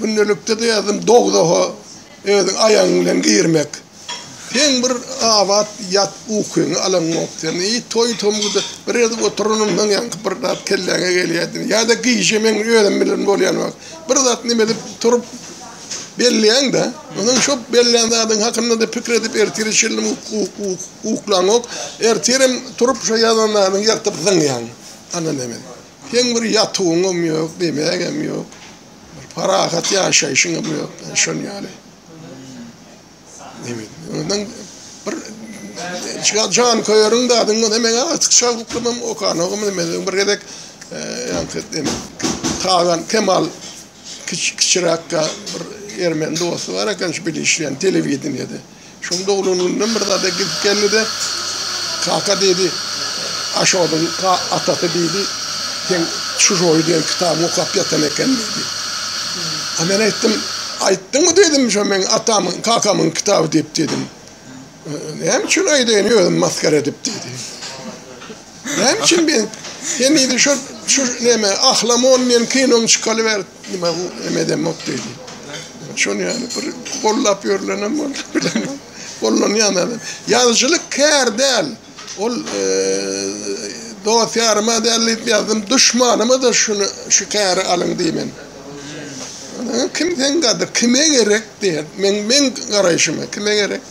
gündelikde ýazdym dogzaho. Özüň aýagyň bilen girmek. Seň bir abat ýat ukyňy alaňok sen i toý tomguda bir gezek oturanam maň ýaňky bir zat kelläňe gelýädini ýada gije meň özüm bilen bolýan wagt bir zat nime edip turup belleýäňdä onuň şo bellän zadyň hakyndada pikir edip ertire çenli uklaňok ertirem turup şo ýazan zadyňy ýyrtyp zyňýaň ana neme seň bir ýatuwyňam ýok diýmägem ýok. Bir parahat ýaşaýşyň ömri ýok. Şon ýaly. Nebit. Ondan bir Şigal Jan Köýeriň de adyň bolsa meň artyk şaglyklymam okan ogum men bir gezek ýa-da Tagan Kemal kiçiräkkä bir ermeni dosty bar eken şu bilişýän telewideniýede. Şuň doglan gününden bir zada gidip geldi-de, Kaka diýdi, Aşodyň atasy diýdi, Sen Şu joý diýen kitaby okap ýatan eken diýdi. A men aýtdym, Aýtdyňmy diýdim, Şu meň atamyň, kakamyň kitaby diýip diýdim. Näme üçin aýdaýyn özümi masgara edip diýdi. Näme üçin men henize şol şu näme Ahlamon diýen kinoň çykaly bäri nima bu näme edemok diýdi. Şony ýaly bir gollap ýörlenem bor. Gollanýan adam. Ýazyjylyk kär däl. Ol e, dost ýaryma däl diýip ýazdym. Duşmanyma da şuny şu käri alyň diýmen. Kim sen gadyr, kime gerek diýer. Men men garaýşyma kime gerek?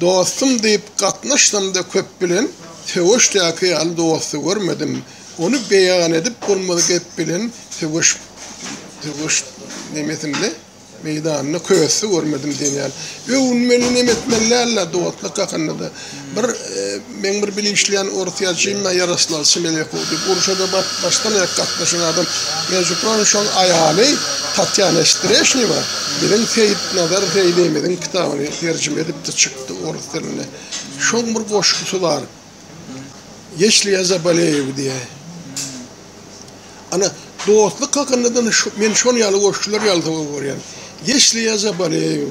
Dostum diýip gatnaşsamda köp bilen söweşdäki ýaly dosty görmedim. Ony beýan edip bolmaz gep bilen söweş söweş nemesinde meýdanda kösti görmedim diýen ýaly. Öwünmeli nemes bilen däl-de dostluk hakynda-da bir Meň bir bile işleýän orus ýazyjymda Ýaroslaw Semenekow diýip, urşa-da başdan-aýak gatnaşan adam. Mejuproň şol aýaly Tatýana Streşnewa biziň Seýitnazar Zeýnebimiziň kitabyny terjime edipdi, çykdy orus dilinde. Şoň bir goşgusy bar, Ýeşli ýa zaboleýew diýýä. Ana, dostluk hakynda-da men şol ýaly goşgular ýaly sowuk görýän. Ýeşli ýa zaboleýew,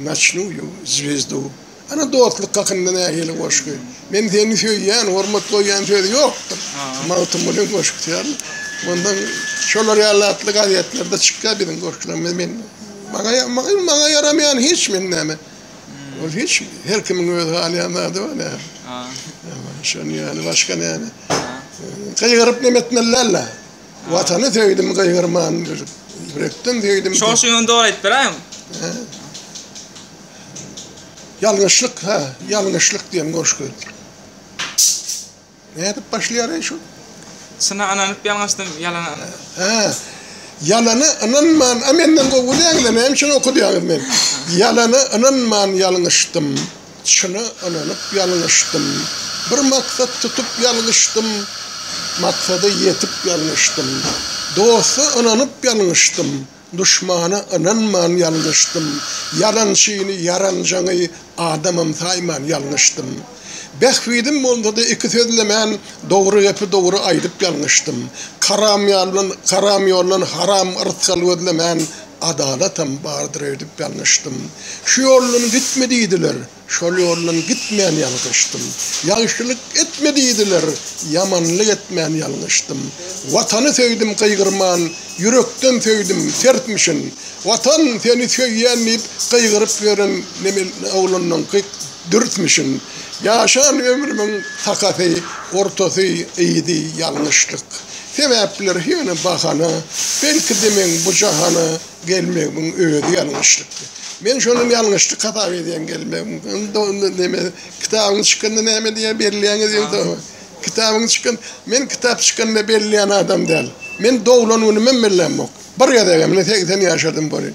Naçnu ýu zwezdu. Ana dostluk hakynda nähili goşgy. Men seni söýýän, hormat goýýan söz ýokdur. Magtymgulyň goşgusy ýaly. Mundan şolar ýaly atly gazetlerde çykýar biziň goşgularymyz. Men maňa maňa ýaramaýan hiç men näme. Ol hiç her kimiň öz halaýan zady bar näme. Şonuň ýaly başga näme. Gygyryp neme etmeli däl-le. Watany söýdim gaýgyrman gülüp, ýürekden söýdim. Şol şuň ýony dogry aýdyp beräýiň. Ýalňyşlyk, ha, ýalňyşlyk diýen goşgy. Nädip başlaýar eý şu? Çyna ynanyp ýalňyşdym, ýalana ynanman. Ha. Ýalana ynanman, a menden gowy däl-le, näme üçin okadýaňyz meni? Ýalana ynanman ýalňyşdym, Çyna ynanyp ýalňyşdym. Bir maksat tutup ýalňyşdym. Maksada ýetip ýalňyşdym. Dosta ynanyp ýalňyşdym. Duşmana ynanman ýalňyşdym. Ýalançyny, ýaranjaňy adamam saýman ýalňyşdym. Bähbidim bolsa-da iki sözlemän, dogry gepi dogry aýdyp ýalňyşdym. Karam ýoldan haram rysgal gözlemän, Adalatam bardyr öýdüp ýalňyşdym. Şu ýoldan gitme diýdiler, şol ýoldan gitmän ýalgyşdym. Ýagşylyk etme diýdiler, ýamanlyk etmän ýalňyşdym. Watany söýdüm gygyrman, ýürekden söýdüm, sertmişin. Watan, seni söýýän diýip, gygyryp ýören oglandan Dürtmüşin, ýaşan ömrümiň sakasy, ortasy, yzy, ýalňyşlyk. Sebäpler ýöne bahana, belki-de meň bu jahana gelmegimiň özi ýalňyşlykdy. Men şony ýalňyşlyk hasap edýän gelmegimi. Onda neme, kitabyň çykanda näme diýýär, belleýäňiz ýogsam? Kitabyň çykan, men kitap çykanda belleýän adam däl. Men doglan günümem bellämok. Bir gezegem, ine segsen ýaşadym welin.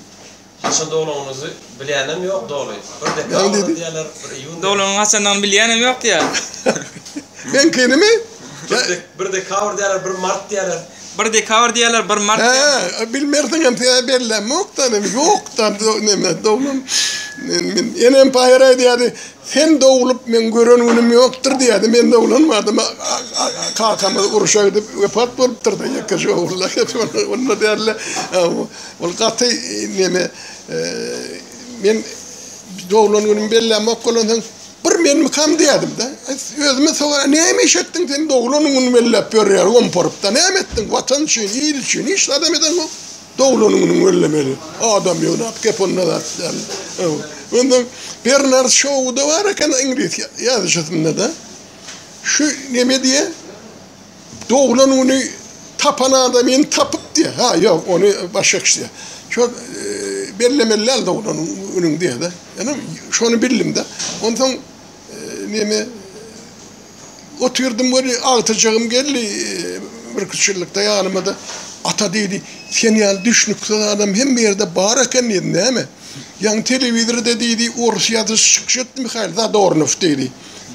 Haça dolanyny bilýänem ýok doly. Bir dekabr diýýärler, bir iýun. Dolanyň haçandygyny bilýänem ýok diýýär. Meňkinimi? Bir dekabr diýýärler, bir mart diýýärler. Bir dekabr diýýärler, bir mart diýýärler. Hä, bilmersiňem, seniň bellämokda näme, ýokda näme dolan. Men enem paýar aýdýardy, sen doglup meň gören günüm ýokdur diýýärdi. Men doglanmadym. Kakamyz urşa gidip wepat bolupdyr-da, ýekeje ogullar. Onda däldi. Ol gaty neme men doglan günümi bellämok bolansoň bir menmikam diýädimde. Özüme soraýan näme iş etdiň sen doglan günümi belläp ýörýär omporypda näme etdiň watan üçin il üçin hiç zadam edeňok doglan günüňi bellemeli adam ýygnap gep onda zat däl. Onda Bernard Şou-da bar eken iňlis ýazyjysynda-da şu neme diýýär Doglan güni tapan adamyny tapyp diýýär. Ha, ýok, ony başga kişi diýýär. Şo bellemeli däl doglan günüňi diýýär-de. Ýöne şony bildim-de. Onsoň neme otyrdym we agtyjagym geldi birki üç ýyllykda ýanyma-da. Ata diýdi, sen ýaly düşnüksiz adam hemme ýerde bar eken diýdi. Näme? Ýaňy telewizorda diýdi, orus ýazyjysy çykyş etdi Mihail Zadornow diýdi.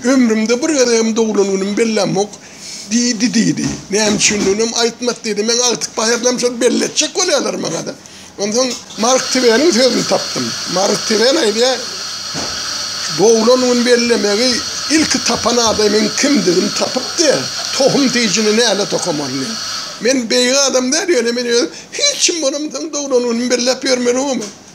Ömrümde bir gezegem doglan günümi bellämok. Diýdi, diýdi. Näme üçindiginem aýtmady, diýdi. Men agtyk bahyrynam şol belli etjek bolýarlar maňa-da. Onsoň Mark Tweniň sözüni tapdym. Mark Twen aýdýar, Doglan gün bellemegi ilki tapan adamyň kimdigini tapyp diýýär, tohum tijini näle tokamaly diýýär. Men beýik adam däl, ýöne men özüm hiç kim bolamsoň doglan günümi belläp ýörmeli boman.